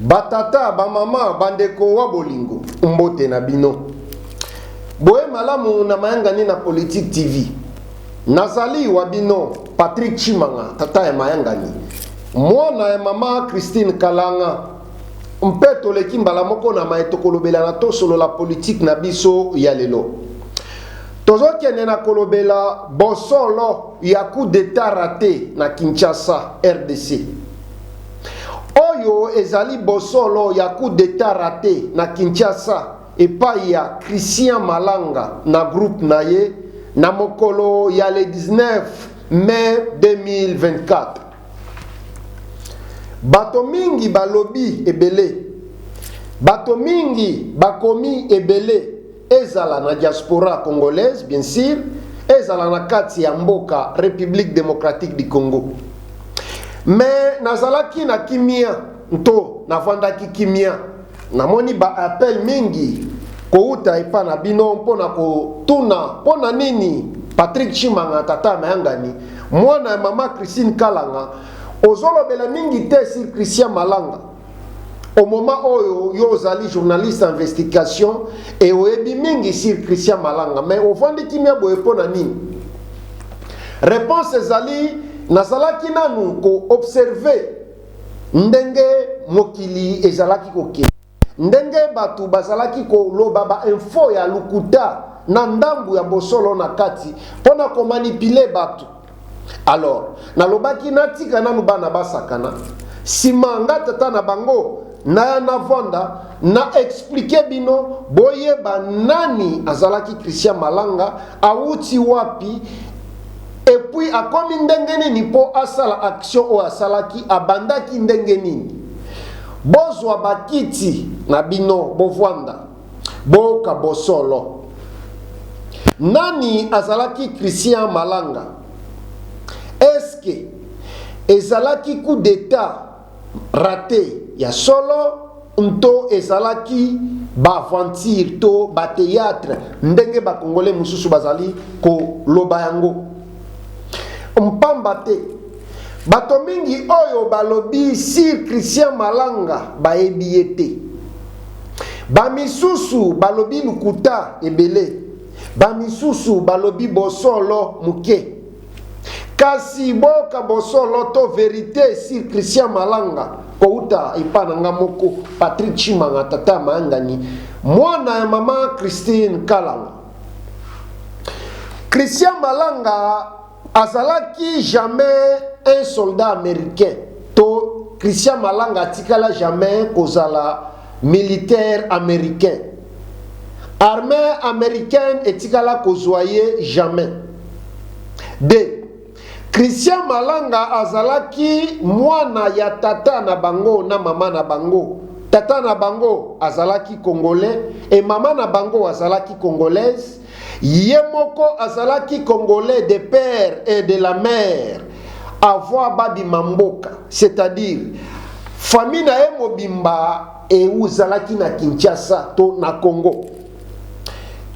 Ba tata, ba mama, ba ndeko wa bolingo, mbote na bino. Boye malamu na mayangani na Politique TV. Nazali wa bino Patrick Tshimanga, tata ya mayangani, mwana ya mama Christine Kalanga, mpe toleki mbala moko na maye tokolobela na tosolola politique na biso ya lelo. Tozokende na kolobela bosolo ya coup d'etat rate na Kinshasa, rdc. Oyo ezali bosolo ya coup d'etat rate na Kinshasa epayi ya Christian Malanga na groupe na ye na mokolo ya le 19 mai 2024. Bato mingi balobi ebele, bato mingi bakomi ebele. ezala na diaspora congolaise bien sur, ezala na kati ya mboka Republique Democratique du Congo. Mais nazalaki na kimia nto navandaki kimia, namoni ba appel mingi kowuta epa na bino mpo na kotuna mpo na nini Patrick Chimanga tata Mayangani mwana ya mama Christine Kalanga ozolobela mingi te sur Christian Malanga Au moment oyo yo ozali journaliste investigation et oyebi mingi sur Christian Malanga mais ovandi kimia boye mpo na nini? Réponse ezali nazalaki nanu ko observer ndenge mokili ezalaki kokende ndenge bato bazalaki koloba ba info ya lokuta na ndambu ya bosolo na kati mpo na komanipile bato Alors, nalobaki natika nanu bana basakana, sima nga tata na bango naya navanda na explike bino boyeba nani azalaki Christian Malanga, awuti wapi epuis akomi ndenge nini mpo asala action oyo asalaki, abandaki ndenge nini. Bozwa bakiti na bino bovanda. Boyoka bosolo. Nani azalaki Christian Malanga? Est-ce que ezalaki coup d'etat rate ya solo nto ezalaki ba aventures to ba theatres ndenge ba Congolais mosusu bazali koloba yango? Mpamba te, bato mingi oyo balobi sur Christian Malanga bayebi ye te. Bamisusu balobi lokuta ebele, bamisusu balobi bosolo moke. Kasi boyoka bosolo to verite sur Christian Malanga kowuta epa na nga moko Patrick Tshimanga tata ya mayangani, mwana ya mama Christine Kalanga. Christian Malanga. Azalaki jamais un soldat americain to Christian Malanga atikala jamais kozala militaire americain. Armee americaine etikala kozua ye jamais. De, Christian Malanga azalaki mwana ya tata na bango na mama na bango. Tata na bango azalaki congolais et mama na bango azalaki congolaise. Ye moko azalaki congolais de père et de la mère avant babima mboka c'est à dire famille na ye mobimba euzalaki na Kinshasa to na Congo.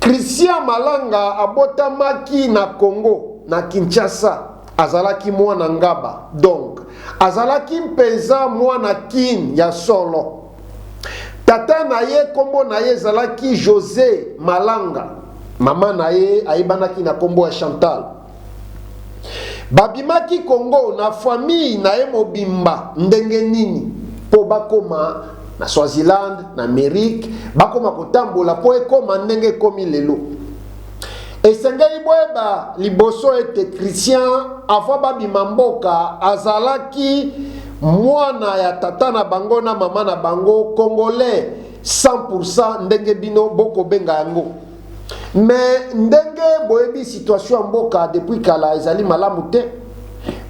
Christian Malanga abotamaki na Congo na Kinshasa azalaki mwana Ngaba donc azalaki mpenza mwana Kin ya solo. Tata na ye nkombo na ye ezalaki Jose Malanga. Mama na ye ayebanaki na nkombo ya Chantal. Babimaki Congo na famille na ye mobimba ndenge nini? Mpo bakoma na Swaziland, na Amerique, bakoma kotambola mpo ekoma ndenge ekomi lelo. Esengeli boyeba liboso ete Christian, avant babima mboka, azalaki mwana ya tata na bango na mama na bango, congolais 100 pour 100 ndenge bino boko benga yango. Mais ndenge boyebi situation ya mboka depuis kala ezali malamu te.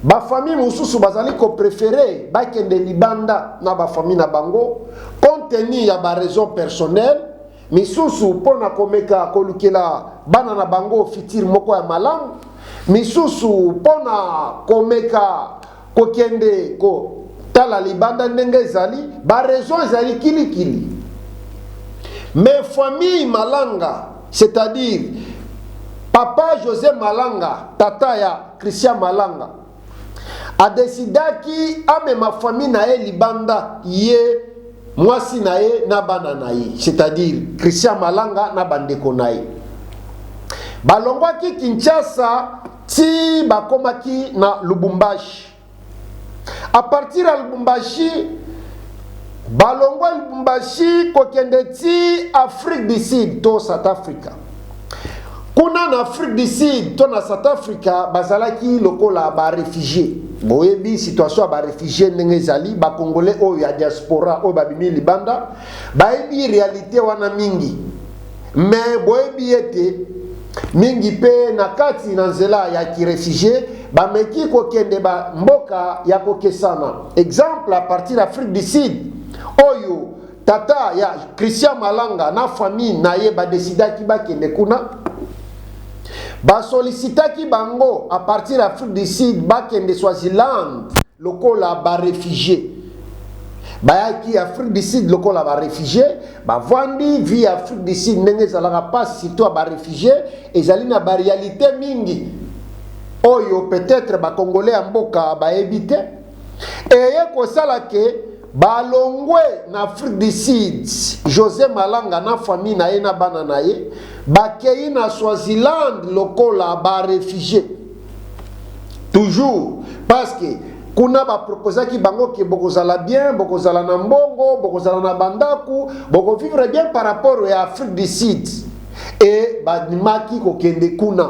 Ba famille mosusu bazali ko prefere bakende libanda na ba famille na bango compte tenu ya ba raison personnelle misusu mpo na komeka kolukela bana na bango fitire moko ya malamu, misusu mpo na komeka kokende kotala libanda ndenge ezali. Ba raisons ezali kilikili. Mais famille Malanga, c'est-à-dire papa Jose Malanga, tata ya Christian Malanga, A decidaki amema famille na ye libanda, ye, mwasi na ye na bana na ye, c'est-à-dire Christian Malanga na ba ndeko na ye. Balongwaki Kinshasa tii bakomaki na Lubumbashi. A partir ya Lubumbashi, balongwa Lubumbashi kokende tii Afrique du Sud to South Africa. Kuna na Afrique du Sud to na South Africa bazalaki lokola ba refugie. Boyebi situation ya ba refugie ndenge ezali, ba congolais oyo ya diaspora oyo babimi libanda bayebi realite wana mingi, mais boyebi ete mingi mpe na kati na nzela ya kirefugie bameki kokende ba mboka ya kokesana. Exemple a partir Afrique du Sud oyo Tata ya Christian Malanga na famille na ye ba decidaki bakende kuna. Ba sollicitaki bango à partir Afrique du Sud bakende Swaziland lokola ba réfugiés. bayaki afrique du sud lokola barefugie bavandi vie ya afrique du sud ndenge ezalaka mpasi surtout ya barefugie ezali na barealité mingi oyo peut-être bacongolais ya mboka bayebi te eye kosala ke balongwe na Afrique du Sud. Jose Malanga na famille na ye na bana na ye bakei na Swaziland lokola ba refugie toujours parce que kuna baproposaki bango ke bokozala bien bokozala na mbongo bokozala na bandako bokovivre bien par rapport ya afrique du sud e bandimaki kokende kuna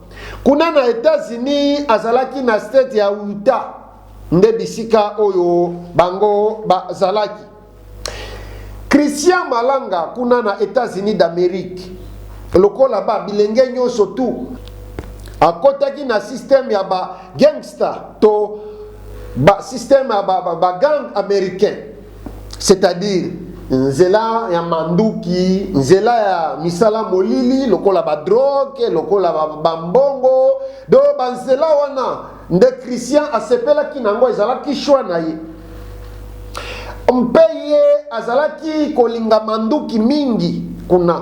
kuna na etats-unis azalaki na state ya uta nde bisika oyo bango bazalaki christian malanga kuna na etats-unis d'amérique lokola ba bilenge nyonso tu akotaki na systeme ya ba gangster to ba systeme ya ba, ba, ba gang américain c'est-à-dire nzela ya manduki, nzela ya misala molili lokola ba drogue, lokola ba mbongo, do ba nzela wana nde Christian asepelaki na yango, ezalaki choix na ye mpe ye azalaki kolinga manduki mingi kuna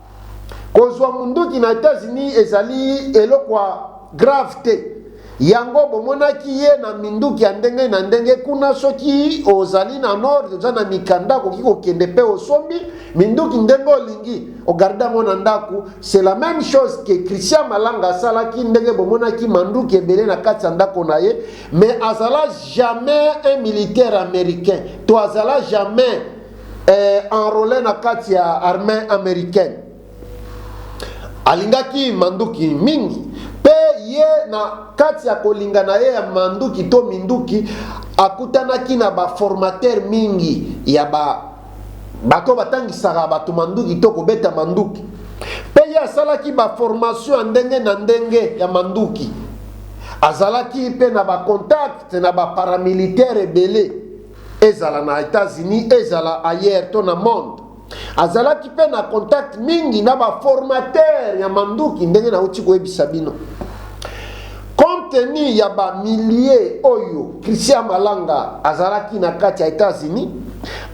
Kozwa munduki na Etats-Unis ezali eloko ya grave te. Yango bomonaki ye na minduki ya ndenge na ndenge kuna. Soki ozali na nord, oza na mikanda, okoki kokende pe osombi minduki ndenge olingi, ogarde yango na ndaku. C'est la meme chose que Christian Malanga asalaki, ndenge bomonaki manduki ebele na kati ya ndako na ye, mais azala jamais un militaire americain to azala jamais eh, enrole na kati ya armee americaine alingaki manduki mingi mpe ye na kati ya kolinga na ye ya manduki to minduki akutanaki na baformatere mingi ya ba bato batangisaka bato manduki to kobeta manduki mpe ye asalaki baformation ya ndenge na ndenge ya manduki azalaki mpe na bacontacte na baparamilitaire ebele Ezala na Etats-Unis, ezala ailleurs to na monde, azalaki mpe na contact mingi na ba formateurs ya manduki ndenge nauti koyebisa bino. Compte tenu ya ba milliers oyo Christian Malanga azalaki na kati ya Etats-Unis,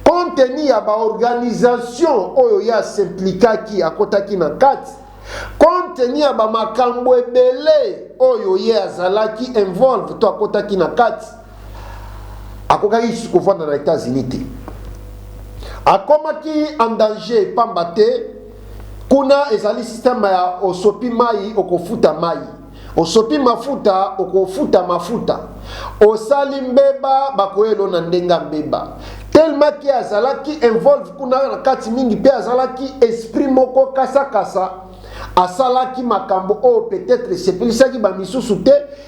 compte tenu ya ba organisations oyo ye a s'implikaki, akotaki na kati, compte tenu ya ba makambo ebele oyo ye azalaki involve to akotaki na kati, akokaki lisusu kovanda na Etats-Unis te. Akomaki en danger pamba te kuna ezali système ya osopi mai okofuta mai, osopi mafuta okofuta mafuta, osali mbeba bakoyelo na ndenge ya mbeba. Tellement ke azalaki involve kuna na kati mingi mpe azalaki esprit moko kasakasa kasa, asalaki makambo oyo peut-être esepelisaki bamisusu te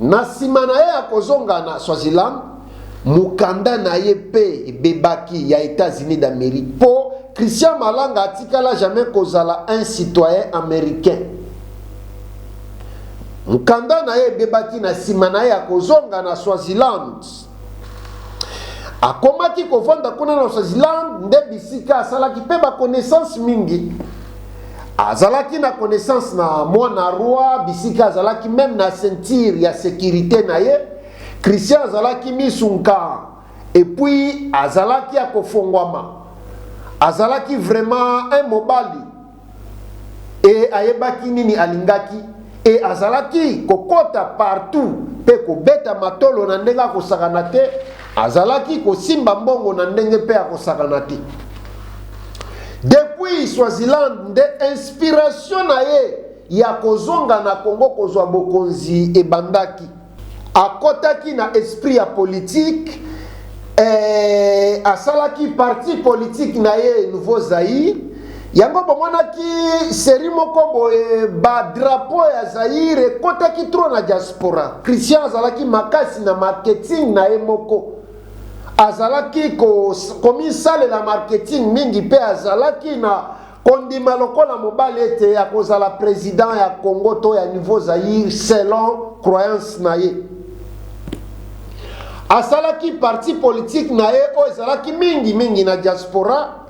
Na nsima na ye ya kozonga na Swaziland, mokanda na ye mpe ebebaki ya Etats-Unis d'Amerique mpo Christian Malanga atikala jamais kozala un citoyen americain. Mokanda na ye ebebaki na nsima na ye ya kozonga na Swaziland. Akomaki kovanda kuna na Swaziland, nde bisika asalaki mpe ba connaissances mingi. Azalaki na connaissance na mwana roi, bisika azalaki meme na ceinture ya securite na ye. Christian azalaki misu nkaa epuis azalaki ya kofongwama, azalaki vraiment un mobali. eye ayebaki nini alingaki e azalaki kokota partout mpe kobeta matolo na ndenge akosakana te azalaki kosimba mbongo na ndenge mpe akosakana te depuis swaziland nde inspiration na ye ya kozonga na kongo kozwa bokonzi ebandaki Akotaki na esprit ya politique eh, asalaki parti politique na ye Nouveau Zaïre. Yango bomonaki série moko boye ba drapeau ya Zaïre ekotaki trop na diaspora. Christian azalaki makasi na marketing na ye moko. Azalaki komisalela marketing mingi pe azalaki na Kondima lokola mobali ete akozala president ya Congo to ya niveau Zaïre selon croyance na ye. Asalaki parti politique na ye oyo ezalaki mingi mingi na diaspora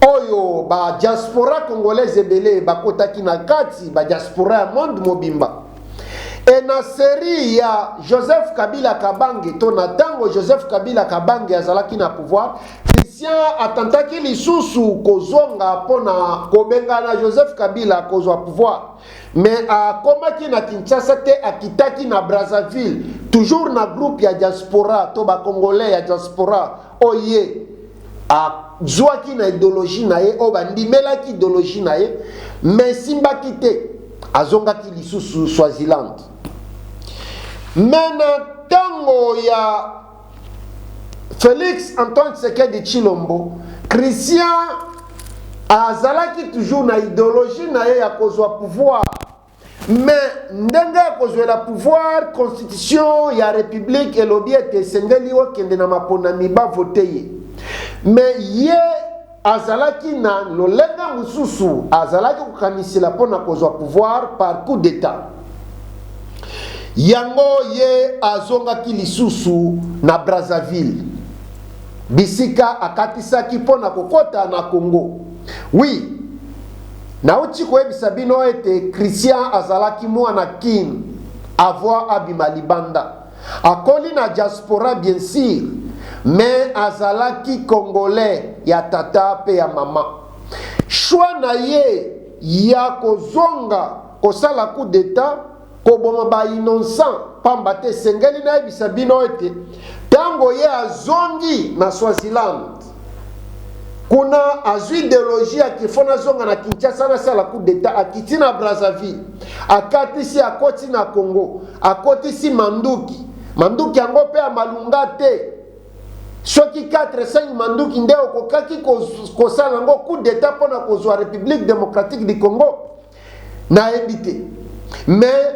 oyo ba diaspora congolaise ebele bakotaki na kati ba diaspora ya monde mobimba. Et na serie ya Joseph Kabila Kabange to na tango Joseph Kabila Kabange azalaki na pouvoir, Christian atentaki lisusu kozonga mpo na kobengana Joseph Kabila kozwa pouvoir. Mais akomaki na Kinshasa te, akitaki na Brazzaville, toujours na groupe ya diaspora to ba Congolais ya diaspora Oyo ye azwaki na ideologie na ye, oyo bandimelaki ideologie na ye, mais esimbaki te, azongaki lisusu Swaziland. Mais na tango ya Felix Antoine Tshisekedi Tshilombo, Christian azalaki toujours na ideologie na ye ya kozwa pouvoir. mais ndenge ya kozwela pouvoir constitution ya republique elobi ete esengeli okende na maponami bavote ye mais ye azalaki na lolenge mosusu azalaki kokanisela mpo na kozwa pouvoir par coup d'état yango ye azongaki lisusu na brazzaville bisika akatisaki mpo na kokɔta na congo wi oui, Nauti koyebisa bino ete Christian azalaki muana kin avoir abima libanda akoli na diaspora bien sur mais azalaki congolais ya tata pe ya maman choix naye ya kozonga kosala coup d'etat koboma ba innocent pamba te esengeli nayebisa bino ete ntango ye azongi na Swaziland kuna azwi ideologie ya kifo nazonga na Kinshasa nasala coup d'etat akiti na Brazzaville akatisi akoti na Congo akotisi manduki manduki yango mpe ya malunga te soki 45 manduki nde okokaki kosala yango coup d'etat mpo na kozwa République démocratique du Congo Nayebi te mais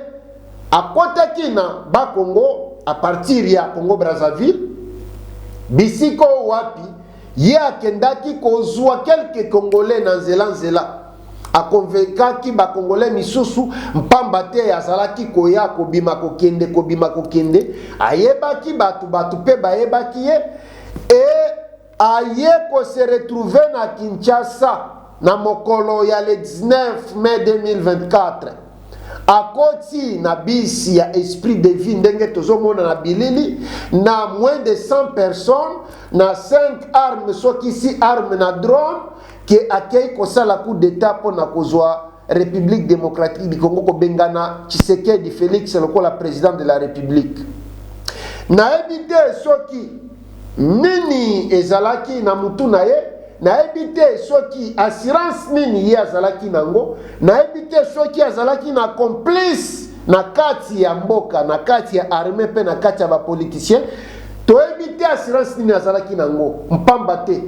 akotaki na ba Congo a partir ya Congo Brazzaville bisika oyo wapi ye akendaki kozwa quelques congolais na nzela nzela akonvekaki bakongole misusu mpamba te azalaki koya kobima kokende kobima kokende ayebaki bato bato mpe bayebaki ye e aye ko se retrouver na Kinshasa na mokolo ya le 19 mai 2024 akoti na bisi ya esprit de vie ndenge tozomona na bilili na moins de 100 personnes na 5 armes soki si arme na drone ke akei kosala coup d'etat mpo na kozwa Republique Democratique du Congo kobengana Tshisekedi Felix lokola president de la Republique. Nayebi te soki nini ezalaki na mutu na ye nayebi te soki assurance nini ye azalaki nango nayebi te soki azalaki na complice na kati ya mboka na kati ya arme mpe na kati ya bapoliticien toyebi te assurance nini azalaki nango mpamba te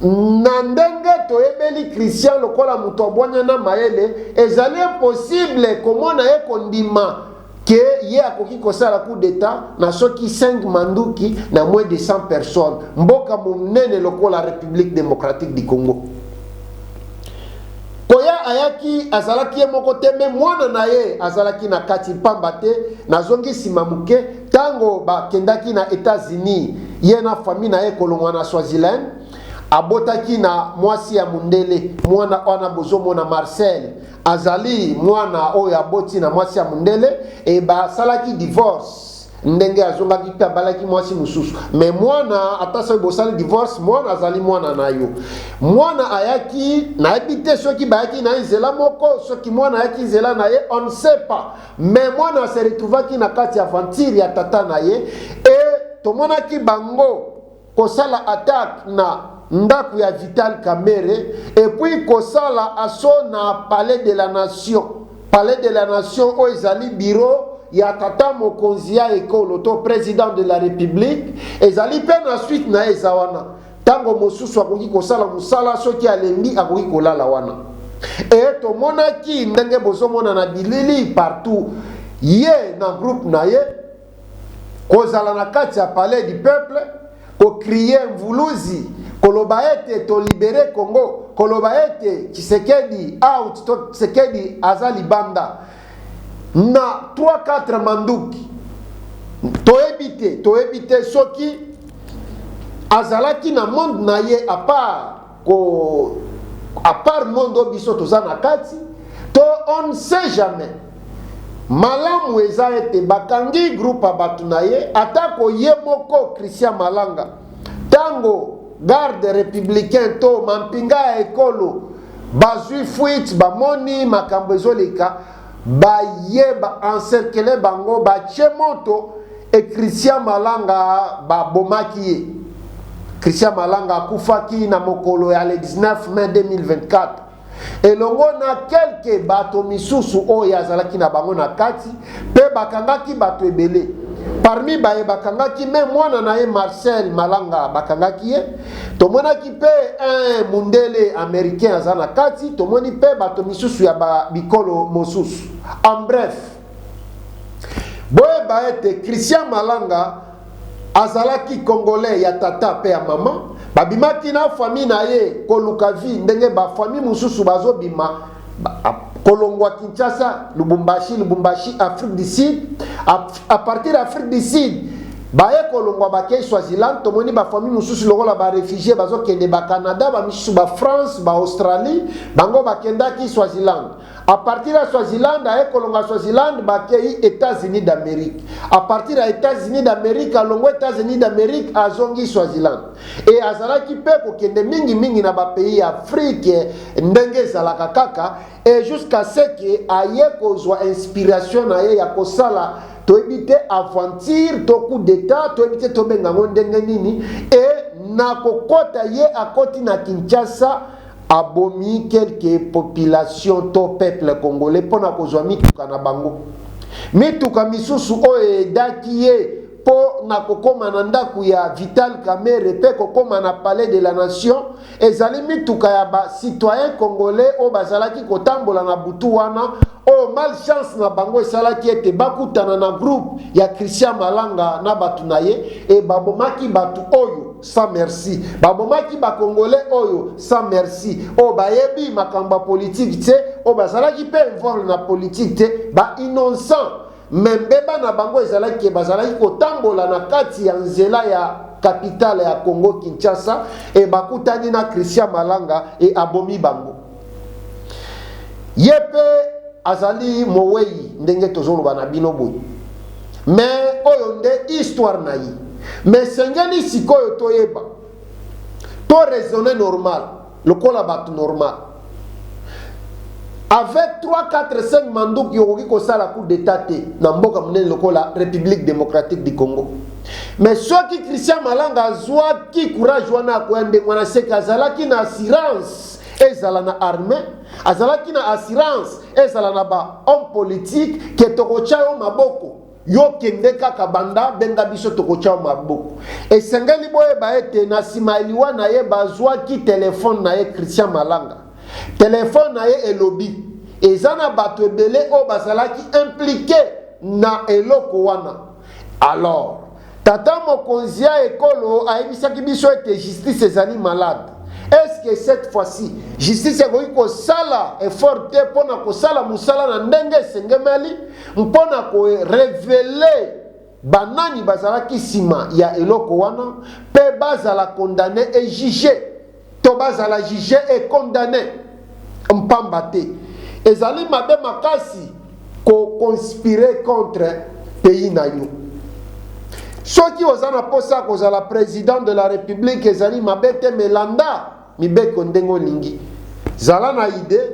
Na ndenge toyebeli Christian lokola moto ya bwanya na mayele, ezali impossible komona ye kondima que ye akoki kosala coup d'Etat na soki cinq manduki na moins de 100 personnes, mboka monene lokola Republique democratique du Congo. Koya ayaki, azalaki ye moko te mais mwana na ye azalaki na kati, pamba te, nazongi sima moke, Tango ba kendaki na Etats Unis ye na famille na ye kolongwa na Swaziland, abotaki na mwasi ya mundele. Mwana wana bozo mona Marcel azali mwana oyo aboti na mwasi ya mundele et ba salaki divorce ndenge azongaki mpe abalaki mwasi mosusu me mwana ata soki bosali divorce mwana azali mwana na yo mwana ayaki nayebi te soki bayaki na ye nzela moko soki mwana ayaki nzela na ye on ne sait pas Mais mwana se retrouvaki na kati ya aventure ya tata na ye et tomonaki bango kosala attaque na ndako ya Vital Kamerhe et puis kosala assaut na Palais de la Nation. Palais de la Nation oyo ezali bureau ya tata mokonzi ya ekolo to president de la republique ezali mpe na suite na ye eza wana Ntango mosusu akoki kosala mosala, soki alembi akoki kolala wana. E, tomonaki ndenge bozomona na bilili partout ye na groupe na ye kozala na kati ya palais du peuple kokrie mvuluzi koloba ete tolibere congo koloba ete tshisekedi out to tshisekedi aza libanda na 3 4 manduki toyebi te toyebi te soki azalaki na monde na ye apart ko apart monde oyo biso toza na kati to on ne sait jamais malamu eza ete bakangi groupe ya bato na ye atako ye moko christian malanga ntango garde républicain to mampinga ya ekolo Bazui fuite bamoni makambo ezoleka baye ba encercler bango batie moto et Christian Malanga babomaki ye. Christian Malanga akufaki na mokolo ya le 19 mai 2024. elongo na kelke bato misusu oyo azalaki na bango na kati mpe bakangaki bato ebele parmi baye bakangaki me mwana na ye marcel malanga bakangaki ye tomonaki mpe un mundele americain aza na kati tomoni mpe bato misusu ya ba bikolo mosusu en bref boyeba ete christian malanga azalaki congolais ya tata mpe ya mama babimaki na famille na ye koluka vie ndenge bafamille mosusu bazobima kolongwa kinshasa lubumbashi lubumbashi afrique du sud à partir ya afrique du sud baye kolongwa bakei swaziland tomoni bafamille mosusu lokola barefugie bazokende bacanada bamisusu bafrance baaustralie bango bakendaki swaziland à partir ya swaziland aye kolonga swaziland bakei états-unis d'amérique à partir ya états-unis d'amérique alongwa états-unis d'amérique azongi swaziland Et azalaki pe kokende mingi mingi na ba pays ya Afrique ndenge ezalaka kaka et jusqu'à ce que aye kozwa inspiration na ye ya kosala toyebi te aventure to coup d'etat toyebi te tobenga yango ndenge nini et na kokota ye akoti na Kinshasa abomi quelque population to peuple congolais mpo na kozwa mituka na bango mituka misusu oyo edaki ye mpo na kokoma na ndako ya Vital Kamerhe mpe kokoma na Palais de la Nation ezali mituka ya ba citoyens congolais oyo bazalaki kotambola na butu wana oyo malchance na bango esalaki ete bakutana na groupe ya Christian Malanga na bato na ye e babomaki bato oyo sans merci babomaki bakongole oyo sans merci oyo bayebi makambo ya politike te oyo bazalaki mpe involve na politike te ba innocent Mais mbeba na bango ezalaki ke bazalaki kotambola na kati ya nzela ya capitale ya Congo Kinshasa et bakutani na Christian Malanga et abomi bango. Ye pe azali moweyi ndenge tozoloba na bino boye. Mais oyo nde histoire na ye. Mais esengeli sikoyo toyeba to raisonner normal. Lokola batu normal. Avec 3, 4, 5 manduki okoki kosala coup d'etat te na mboka monene lokola Republique democratique du Congo. Mais soki Christian Malanga azwaki courage wana akoya ndenge wana seke azalaki na assurance ezala na armée azalaki na assurance ezala na ba homme politique ke tokotya yo maboko Yo kende kaka banda, benga biso tokotia yo maboko. Esengeli boyeba ete na sima ya liwa na ye bazuaki telephone na ye Christian Malanga. Telephone na ye elobi eza na bato ebele oyo bazalaki implique na eloko wana. Alors, Tata mokonzi ya ekolo ayebisaki biso ete justice ezali malade. Est ce que cette fois ci justice ekoki kosala effort te mpo na kosala mosala na ndenge esengemeli mpo na ko reveler banani bazalaki nsima ya eloko wana mpe bazala condamner et juger? to bazala juge et condamne mpamba te ezali mabe makasi ko conspire contre pays na yo soki oza na mposa ya kozala president de la republique ezali mabe te melanda mibeko ndenge olingi zala na idee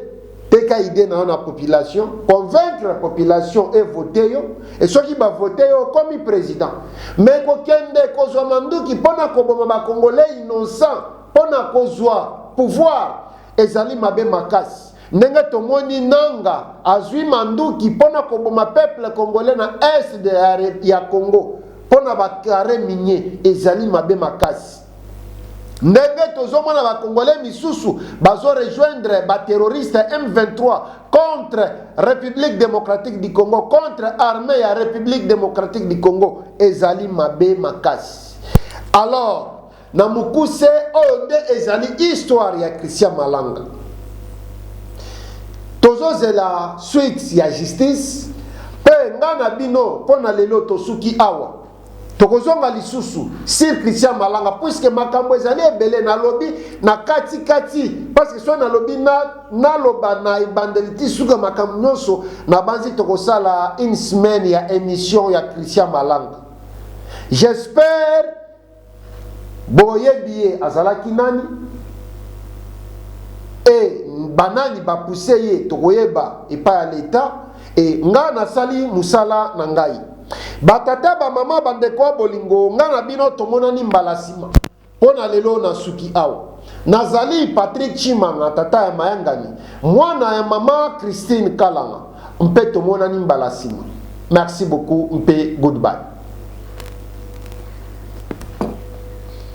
Teka idee na yo na population, convaincre population e vote yo, et soki ba vote yo okomi president. Mais kokende kozwa manduki mpo na koboma ba congolais innocents mpo na kozwa pouvoir ezali mabe makasi. Ndenge tomoni Nanga azwi manduki mpo na koboma peuple congolais na est de ya Congo mpo na ba carre minier ezali mabe makasi. ndenge tozomona ba congolais misusu bazo rejoindre ba terroriste M23 contre République démocratique du Congo contre armée ya République démocratique du Congo ezali mabe makasi alors na mukuse oyo nde ezali histoire ya Christian Malanga tozozela suite ya justice mpe nga na bino mpo na lelo tosuki awa Tokozonga lisusu sur Christian Malanga puisque makambo ezali ebele nalobi na kati kati parce que soki nalobi na naloba na ebandeli ti suka makambo nyonso nabanzi tokosala une semaine ya émission ya Christian Malanga. J'espère Boyebi ye azalaki nani? E banani ba pousser ye tokoyeba epai ya l'etat e nga nasali musala na ngai. Ba tata ba mama ba ndeko ya bolingo nga na bino tomonani mbala sima mpo na lelo na suki awa. Nazali Patrick Tshimanga tata ya mayangani, mwana ya mama Christine Kalanga. Mpe tomonani mbala nsima. Merci beaucoup mpe goodbye.